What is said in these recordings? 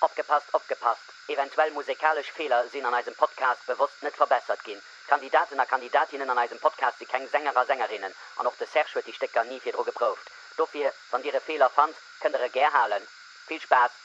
Opgepasst, opgepasst, eventuell musekalesch Feeler sinn an eisem Podcast bewosst net verbessert ginn. D'Kandidaten a Kandidatinnen an eisem Podcast si keng Sänger a Sängerinnen an och de Serge huet déi Stécker ni virdru geprouft. Dofir, wann Dir e Feeler fannt, kënnt Der e gär halen. Vill Spaass!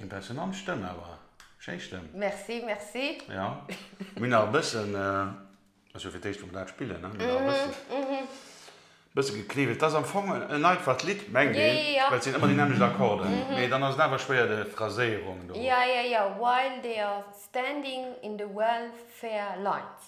Impressionant Stëmm awer, schéi Stëmm. Merci, merci. Jo, mir hunn nach e bëssen, ass jo fir d'éischt wou mer dat spillen, ne, mir hunn nach e bëssen, bësse gekniwwelt. Et ass am Fong en einfacht Lidd, mengt een, well et sinn ëmmer déi nämmlecht Akkorden, mee dann ass et awer schwéier de Phraséierung do. Jo, jo, jo, while they are standing in the welfare lines.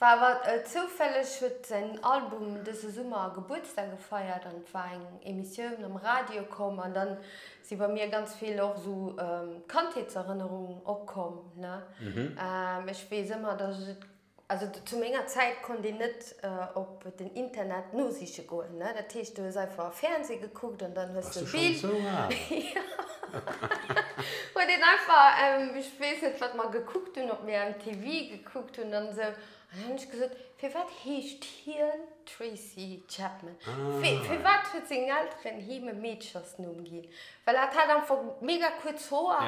War awer zoufälleg huet säin Album dëse Summer Gebuertsdag gefeiert an et war eng Emissioun am Radio komm an dann si bei mir ganz vill och esou Kandheetserënnerungen opkomm ne. Ech weess ëmmer dass ech et, also zu menger Zäit konnt een net op den Internet nosiche goen ne, dat heescht du hues einfach Fernseh gekuckt an dann hues du e Bild, jo huet een einfach, ech weess net wat mer gekuckt hunn op mir MTV. Gekuckt hunn an esou. An dann hunn ech gesot, Firwat heescht hien Tracy Chapman? Fir, firwat huet seng Elteren him e Meedchersnumm ginn? Well hat hat einfach mega kuerz Hoer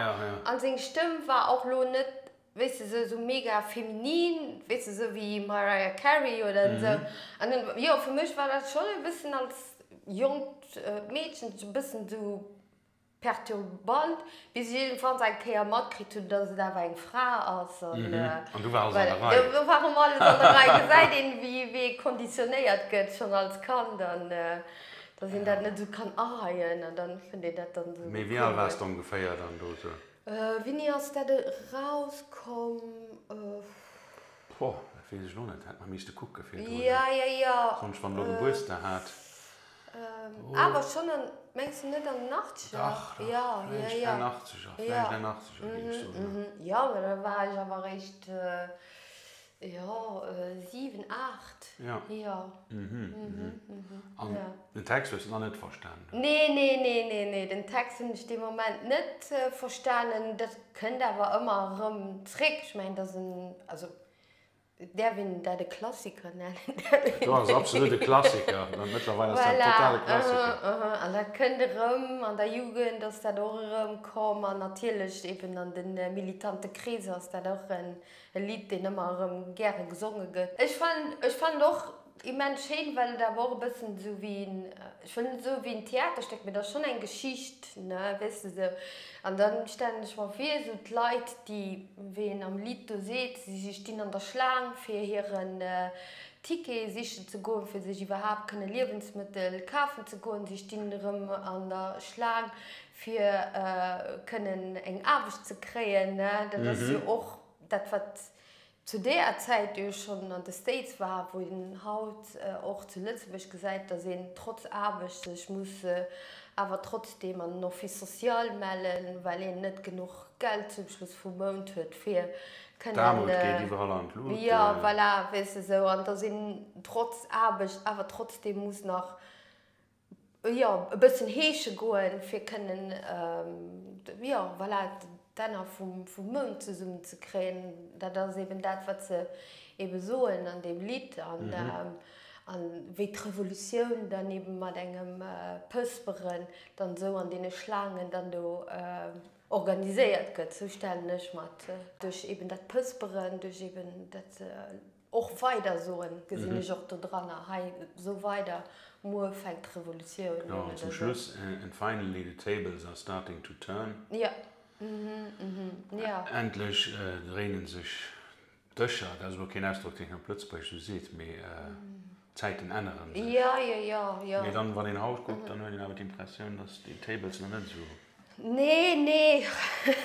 an seng Stëmm war och elo net, wéisst de, esou mega feminin, wéisst de, esou wéi Mariah Carey oder esou. An dann, jo, fir mech war dat schonn e bëssen als jonkt Meedchen e bëssen esou. Perturbant, bis ech iergendwanns eng Kéier matkritt hunn, dass et awer eng Fra ass. An du war alles an der Rei. Voilà, do war ëmmer alles an der Rei. Gesäit een, wéi ee konditionéiert gëtt, schonn als Kand, an dass een dat net esou kann aheien. An dann fënnt een dat dann esou cool. Mee wéi al waars de ongeféier dann do esou? Wéini ass dat erauskomm? Boah, dat weess ech elo net. Hätt mer miisste kucke fir do. Jo, jo, jo. Soss, wann elo de Buerster hat. Awer schon en, mengs de net en achtzeger? Dach, dach, jo, fläicht en achtzeger, fläicht en achtzeger géif ech soen, jo. Jo, ma da war ech awer réischt, jo, siwen, aacht, jo. Jo, An den Text hues de nach net verstanen? Nee, nee, nee, nee, nee, den Text hunn ech dee Moment net verstanen. Dat kënnt awer ëmmer erëm zréck. Ech mengen, dat ass en, also Et däerf een dat e Klassiker nennen. Dat ass absolut e Klassiker. Mëttlerweil ass dat e totale Klassiker. Voilà, aha, aha. An dat kënnt erëm. An der Jugend ass dat och erëmkomm. An natierlech eben an de militante Kreeser ass dat och e Lidd, deen ëmmer erëm gäre gesonge gëtt. Ech fannen, ech fannen och, Immens schéin, well et awer och e bëssen esou wéi en, ech wëll net soe wéi en Theaterstéck, mee et ass schonn eng Geschicht, ne, weess de esou. An da stellen ech mer vir, esou d'Leit, déi, wéi een am Lidd do seet, si stinn an der Schlaang, fir hiren Ticket sichen ze goen, fir sech iwwerhaapt kënne Liewensmëttel kafen ze goen. Si stinn erëm an der Schlaang, fir kënnen eng Aarbecht ze kréien, ne. Dat ass jo och dat, wat zu deeër Zäit jo schonn an de States war, wou een haut och zu Lëtzebuerg gesäit, datt een trotz Aarbecht sech muss awer trotzdeem an den Office social mellen, well een net genuch Geld zum Schluss vum Mount huet, fir kënnen. D'Aarmut geet iwwerall an d'Lut. Jo, voilà, weess de, esou. An datt een trotz Aarbecht awer trotzdeem muss nach. jo e bëssen heesche goen fir kënnen jo voilà d'Enner vum Mound zesummen ze kréien. Dat ass eben dat wat se ebe soen an deem Lidd an wéi d'Revolutioun dann eben mat engem Pësperen dann esou an deene Schlaangen dann do organiséiert gëtt. Sou stellen ech mer et duerch eben dat Pësperen, duerch eben dat se. Och weider soen, gesinn ech och dodranger hei, sou weider, muer fänkt d'Revolutioun un, oder sou. Zum Schluss, and finally the tables are starting to turn, jo, mhm, jo. Endlech dréinen sech d'Dëscher, dat ass elo keen Ausdrock, deen een op Lëtzebuergesch esou seet, mee d'Zäiten änneren sech. Jo, jo, jo, jo. Mee dann, wann een haut kuckt, dann huet een awer d'Impressioun, dass déi tables nach net esou. Nee, nee.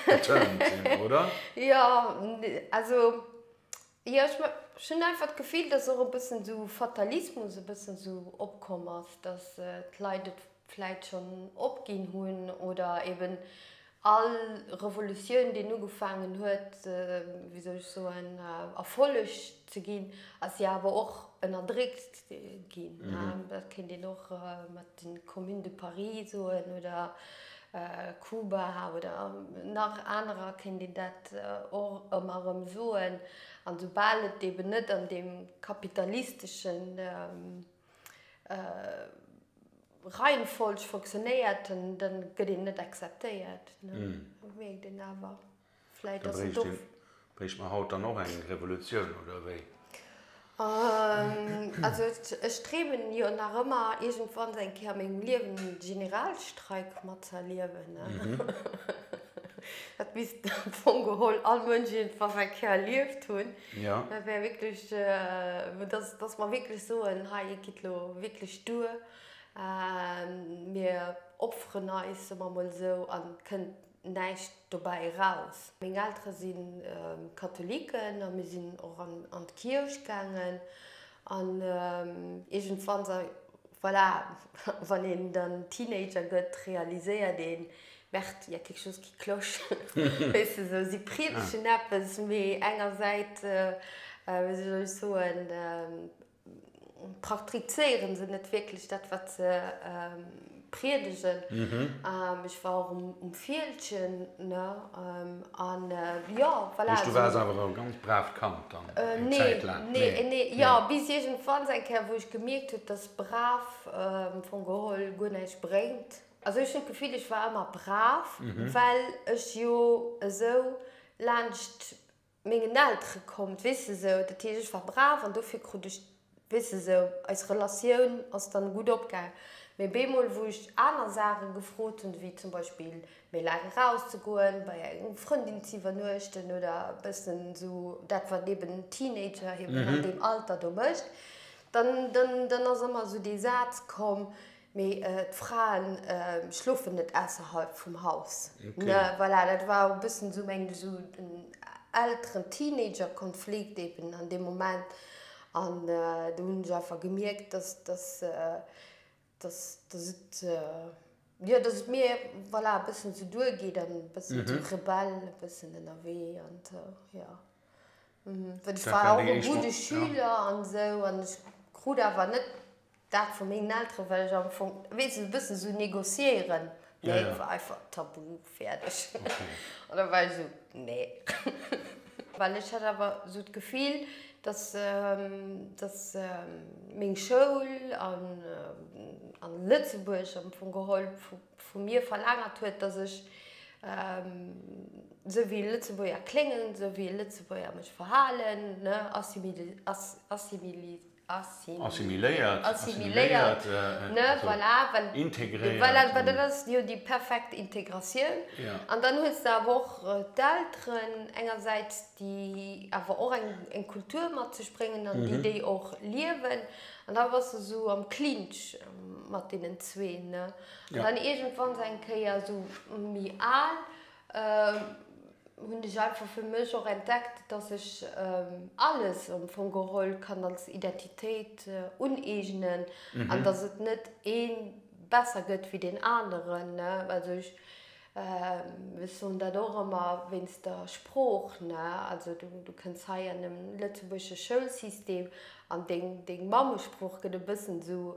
Geturned sinn, oder? Jo, also Jo, ech hunn einfach d'Gefill, dass och e bëssen esou Fatalismus e bëssen esou opkomm ass, dass d'Leit et vläit schonn opginn hunn oder eben all Revolutioun, déi ugefaangen huet, wéi soll ech soen, Erfolleg ze ginn, ass jo awer och ënnerdréckt ginn. Dat kéint een och mat. den d'Commune de Paris soen oder Kuba oder nach anerer kéint een dat och ëmmer erëm soen, an esoubal et eben net an deem kapitalistesche Reihenfolg fonctionnéiert, da gëtt een net acceptéiert, dat mierkt een awer. Vläit ass et och. Do bréicht mer haut dann och eng Revolutioun, oder wéi? Also ech dreemen jo nach ëmmer iergendwanns eng Kéier a mengem Liewen e Generalstreik matzëerliewen. Dat misst am Fong geholl all Mënsch iergendwann eng Kéier erlieft hunn. Dat wär wierklech, dass mer wierklech soen, hei et geet elo wierklech duer, mir opferen eis, soe mer emol esou, a kënnt näischt dobäi eraus. Meng Eltere si Katholiken a mir sinn och an d'Kierch gaangen. An iergendwann, voilà, wann een dann Teenager gëtt, realiséiert een, Merde, il y a quelque chose qui cloche. Weess de esou, si priedegen eppes, mee engersäits, wéi soll ech soen, praktrizéieren se net wierklech dat wat se priedegen. Ech war och um Fieldgen an jo voilà. Heisch du waars awer e ganz bravt Kand dann eng Zäit laang? Nee, nee, jo bis iergendwanns eng Kéier wou ech gemierkt hunn dass brav am Fong geholl guer näischt bréngt. Also ech hunn d'Gefill ech war ëmmer brav well ech jo esou laanscht mengen Eltere kommt, weess de sou, dat heescht ech war brav an dofir krut ech, weess de sou, eis Relatioun ass dann gutt opgaang, mee bemol wou ech aner Saachen gefrot hunn, wéi zum Beispill méi laang eraus ze goen, bei enger Frëndin ze iwwernuechten oder e bëssen sou dat wat eben en Teenager eben an deem Alter do mécht, dann ass ëmmer sou dee Saz komm, Mee d'Fraen schlofen net ausserhalb vum Haus. Ne voilà, dat war o bëssen esou mengen ech esou den Elteren Teenager Konflikt eben an deem Moment. An do hunn ech einfach gemierkt, dass dass dass dass et jo dass et mir voilà e bëssen esou duergeet an e bëssen esou rebell e bëssen ënnerwee an jo. Well ech war och e gudde Schüler an esou an ech krut awer net dat vu mengen Elteren, well ech am Fong, weess de, e bëssen esou négociéieren, nee, war einfach tabu, fäerdeg. An da war ech esou, nee. Well ech hat awer esou d'Gefill, dass, dass meng Schoul a Lëtzebuerg am Fong geholl vu vu mir verlaangert huet, dass ech esou wéi e Lëtzebuerger kléngen, esou wéi e Lëtzebuerger mech verhalen, ne, assimiléiert, assimiléiert, ne, voilà, well, voilà, well dat ass jo déi perfekt Integratioun. An dann hues de awer och d'Elteren engersäits, déi awer och eng Kultur mat sech bréngen an déi déi och liewen. An da bass de sou am Clinch mat deenen zwee, ne? An dann iergendwann sou eng Kéier, sou méi al, hunn ech einfach fir mech och entdeckt, dass ech alles am Fong geholl kann als Identitéit uneegnen an dass et net ee besser gëtt wéi deen aneren, ne? Also ech. Ech soen dat och ëmmer wéinst der Sprooch, ne. Also du kënns hei an en lëtzebuergesche Schoulsystem an deng Mammesprooch gëtt e bëssen esou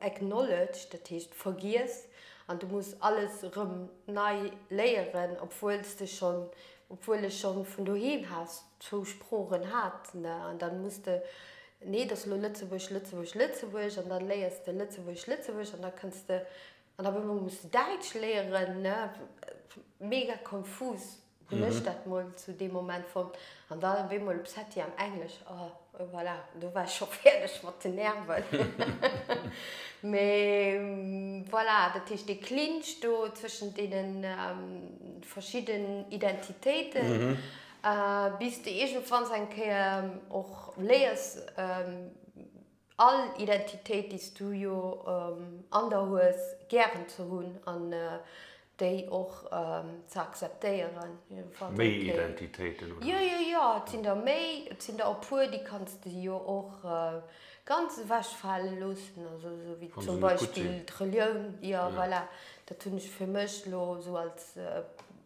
acknowledged, dat heescht vergiess, an du muss alles erëm nei léieren, obwuel s de schonn, obwuel ech schonn vun doheem aus zwou Sproochen hat, ne. An dann muss de, nee, et ass elo Lëtzebuerg, Lëtzebuerg, Lëtzebuerg, an dann léiers de Lëtzebuerg, Lëtzebuerg, an da kënns de An op eemol muss de Däitsch léieren, ne? Mega konfus hunn ech dat mol zu deem Moment fonnt. An dann op eemol op Setti am Englesch, oh, et voilà, do war ech scho fäerdeg mat den Nerven. Mee voilà, dat heescht, dee Clinch do zwëschent deene verschidden Identitéiten, bis de iergendwanns eng Kéier och léiers, all Identitéit déi s du jo an der hues gären ze hunn an déi och ze akzeptéieren, wann se méi Identitéiten oder? Jo jo jo, et sinn der méi, et sinn der e puer déi kanns de jo och ganz ewech fale loossen, also esou wéi zum Beispill d'Relioun, jo voilà, dat hunn ech fir mech elo esou als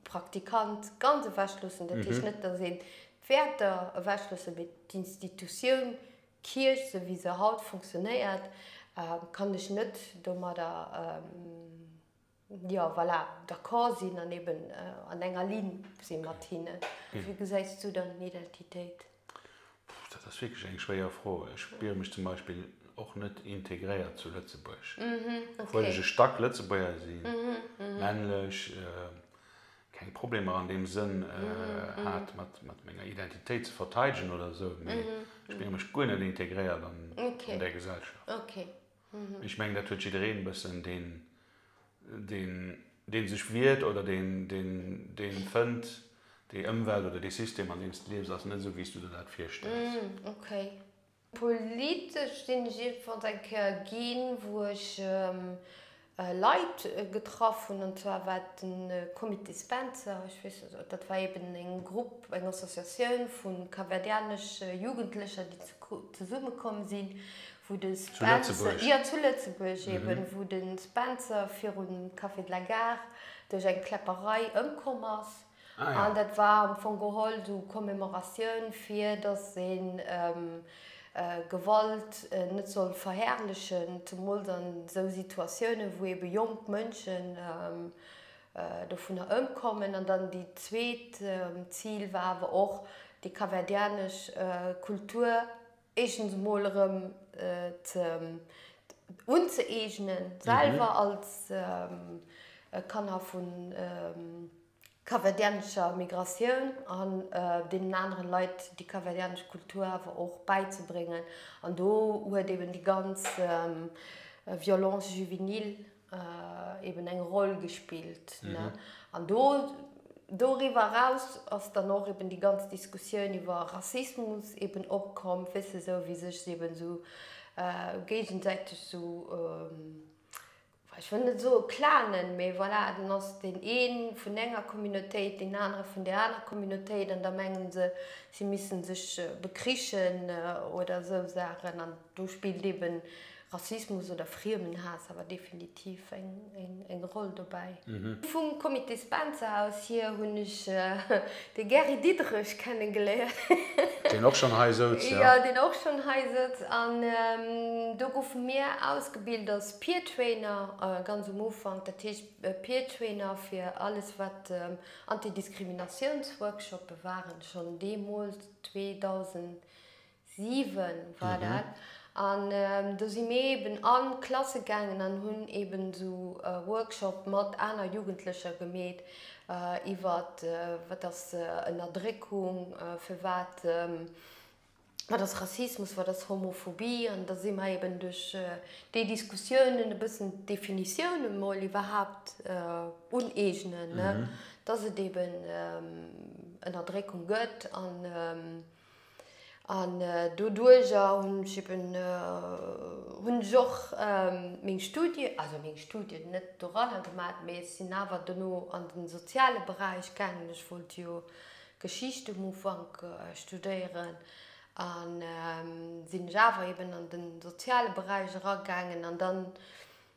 Praktikant ganz ewech loossen, dat heescht net datt een d'Wäerter ewech loosse mee d'Institutioun D'Kierch, sou wéi se haut funktionéiert, kann ech net domadder, jo, voilà, d'accord sinn an eben an enger Ligne si mat hinnen. Wéi gesäis du dann Identitéit? Puh, dat ass wierklech eng schwéier Fro. Ech spiere mech zum Beispill och net integréiert zu Lëtzebuerg, obwuel ech e Stack Lëtzebuerger sinn, männlech. keng Problemer an deem Sënn hat mat menger Identitéit ze verteidegen oder esou, mee ech menge mech guer net integréiert an där Gesellschaft. Mee ech mengen dat huet jiddereen e bëssen, dee sech wiert oder dee fënnt, déi Ëmwelt oder dee System an deem s de liefs ass net esou wéi s du der dat virstells. Politesch sinn ech iergendwanns eng Kéier ginn, wou ech Leit getraff hunn, an zwar war et den Comité Spencer, ech weess net, dat war eben en Grupp, eng Associatioun vu kapverdianesche Jugendlecher, déi zesumme komm sinn, wou de Spencer, jo zu Lëtzebuerg eben, wou de Spencer virun Café de la Gare duerch eng Kläpperei ëmkomm ass. An dat war am Fong geholl sou Commemoratioun fir dass een Gewalt net soll verherrlechen, zemools an sou Situatiounen wou ebe jonk Mënschen dovunner ëmkommen. An dann déi zweet Zil war awer och déi kaverdianesch Kultur Eeschtens emol erëm unzëeegnen, selwer als Kanner vu kapverdianescher Migratioun an deenen anere Leit déi kapverdianesch Kultur awer och bäizebréngen. An do huet eben déi ganz Violence juvénile, eben eng Roll gespillt. An do, doriwwer eraus ass dann och eben déi ganz Diskussioun iwwer Rassismus eben opkomm, wéisst de, sou wéi sech se eben sou géigesäiteg sou, ech wëll net soe klanen, mee voilà, dann ass deen ee vun enger Communautéit, deen anere vun där anerer Communautéit an da menge se, si missten sech bekrichen oder esou Saachen. An do spillt eben Rassismus oder Friemenhaass awer definitiv eng Roll dobäi. Vum Comité Spencer aus hier hunn ech de Gary Diderich kennengeléiert. Deen och schonn hei souz, jo. Jo, deen och schonn hei souz. An do goufe mir ausgebilt als Peer Trainer, ganz um Ufank. Dat heescht Peer Trainer fir alles, wat Antidiskriminatiounsworkshoppe waren, schonn deemools 2000. 7 war dat an do si mir eben an Klasse gaangen an hunn eben esou Workshop mat aner Jugendlecher gemeet iwwert wat ass Ënnerdréckung, fir wat wat ass Rassismus, wat ass Homophobie an da si mer eben duerch déi Diskussiounen e bëssen d'Definitioune mol iwwerhaapt uneegnen, dass et eben Ënnerdréckung gëtt an. An doduerjer hunn ech eben, hunn ech och meng Studien, also meng Studien net doranner gemaach, mee ech sinn awer dono an de soziale Beräich gaangen. Ech wollt jo Geschicht um Ufank studéieren an sinn ech awer eben an de soziale Beräich eragaangen. An dann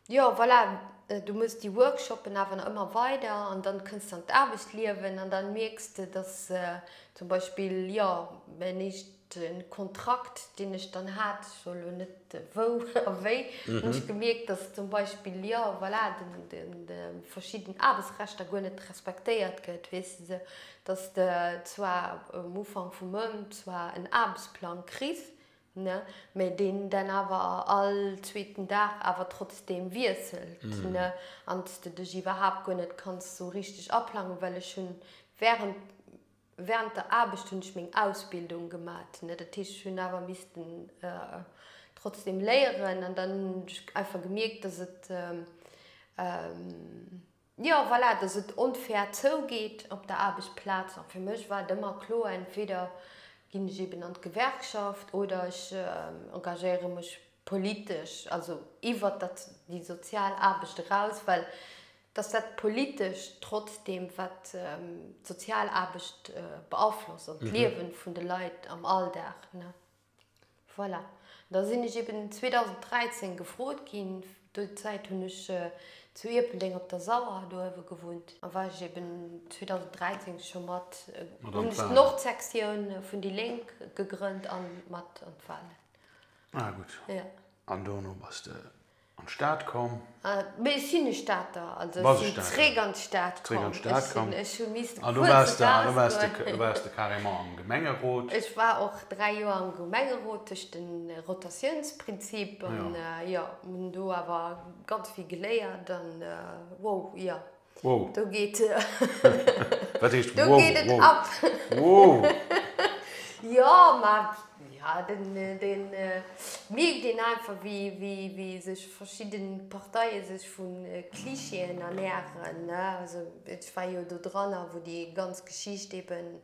Jo voilà, du muss déi Workshoppen awer nach ëmmer weider an dann kënns de an d'Aarbechtsliewen an dann mierks de dass zum Beispill jo mäin éischte Kontrakt deen ech dann hat, ech soe lo net wou a wéi, hunn ech gemierkt dass zum Beispill jo voilà de verschidden Aarbechtsrechter guer net respektéiert gëtt, weess de, dass de zwar um Ufank vum Mount zwar en Aarbechtsplang kriss, ne, mä deen dann awer all zweeten Dag awer trotzdem wiesselt, ne, an s de dech iwwerhaapt guer net kanns esou richteg aplangen, well ech hunn während, während der Aarbecht hunn ech meng Ausbildung gemat, ne, dat heescht, ech hunn awer missten trotzdem léieren an dann hunn ech einfach gemierkt, dass et Jo voilà, dass et onfair zougeet op der Aarbechtsplaz. A fir mech war et ëmmer kloer, entweder ginn ech eben an d'Gewerkschaft oder ech engagéiere mech politesch, also iwwert dat, déi sozial Aarbecht eraus, well dass dat Politescht trotzdeem, wat d'sozial Aarbecht beaflosst an d'Liewe vun de Leit am Alldag, ne. Voilà, da sinn ech eben 2013 gefrot ginn, do Zäit hunn ech zu Ierpeldeng op der Sauer dohewe gewunnt, a war ech eben 2013 scho mat, hunn ech d'Nordsektioun vun déi Lénk gegrënnt a mat an d'Walen. Ah gutt, an dono bass de. An d'Stad komm. Mee ech sinn e Stater, also ech sinn zréck an d'Stad komm. Ech sinn, ech hu miissten kuerz eraus goen. An do waars de carrément am Gemengerot? Ech war och 3 Joer am Gemengerot duerch de Rotatiounsprinzip. An jo, hunn do awer ganz vill geléiert an wow, jo. Wow. Do geet. Wat heescht wow? Do geet et wow. ab. Wow. jo, ma ja, den, den äh, mierkt een einfach, wéi, wéi, wéi sech verschidde Parteie sech vu äh, Klischeeën ernähren. Ne? Also, ech war jo do dran, wou déi ganz Geschicht eben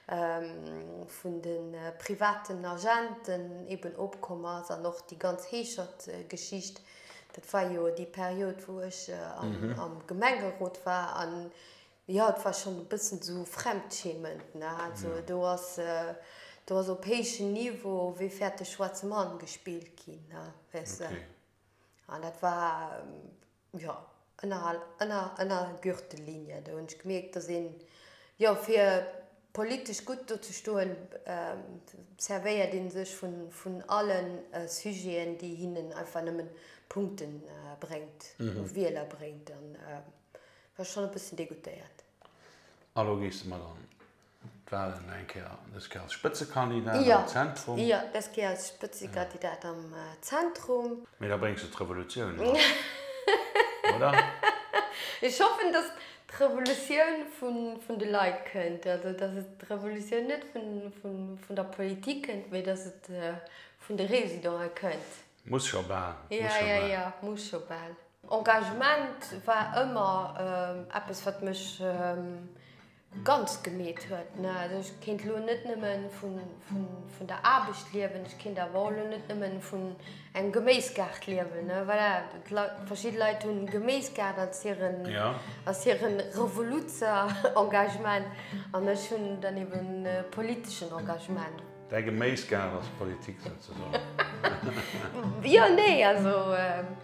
ähm, vun de äh, privaten Agenten eben opkomm ass an och déi ganz Heeschert-Geschicht. Äh, Dat war jo déi Period, wou ech am Gemengerot war. An jo, et war schonn e bëssen esou fremdschämend, ne? Also do ass, do ass op héichem Niveau Wie fährt den schwarzen Mann gespillt ginn, ne? Weißt de? An dat war, jo. Ënnerhal, ënner, ënner Gürtellinie. Do hunn ech gemierkt, dass een, jo, fir politesch gutt do ze stoen, servéiert ee sech vun, vun alle Sujeten, déi hinnen einfach nëmmen Punkte bréngt, Wieler bréngt. An war schonn e bëssen degoutéiert. A lo gees de mat an D'Wahlen eng Kéier, dës Kéier als Spëtzekandidat am Zentrum. Jo, dës Kéier als Spëtzekandidat am Zentrum. Mee da bréngs de d'Revolutioun mat, oder? Ech hoffen, dass d'Revolutioun vun de Leit kënnt, also dass et d'Revolutioun net vun der Politik kënnt, mee dass et vun de Residente kënnt. Muss scho bal. Jo, jo, jo, muss scho bal. Engagement war ëmmer eppes, wat mech ganz gemeet huet. Also ech kéint elo net nëmme vun der Aarbecht liewen, ech kéint awer och elo net nëmme vun engem Geméisgaart liewen. Voilà, verschidde Leit hunn e Geméisgaart als hire, als hire Revoluzzer-Engagement an ech hunn dann eeben e politeschen Engagement. Däi Geméisgaart ass Politik souzesoen. Jo, nee, also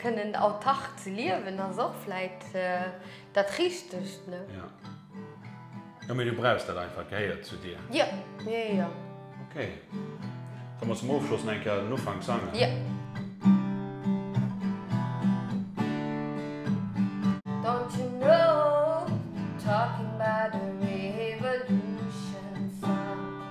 kënnen autark ze liewen ass och vläit dat Richtegt, ne? Jo. Jo, mee du brauchs dat einfach, gehéiert zu dir. Jo, jo, jo. Ok. Da muss zum Ofschloss nach eng Kéier den Ufank sangen. Jo. Don't you know, talking about a revolution song.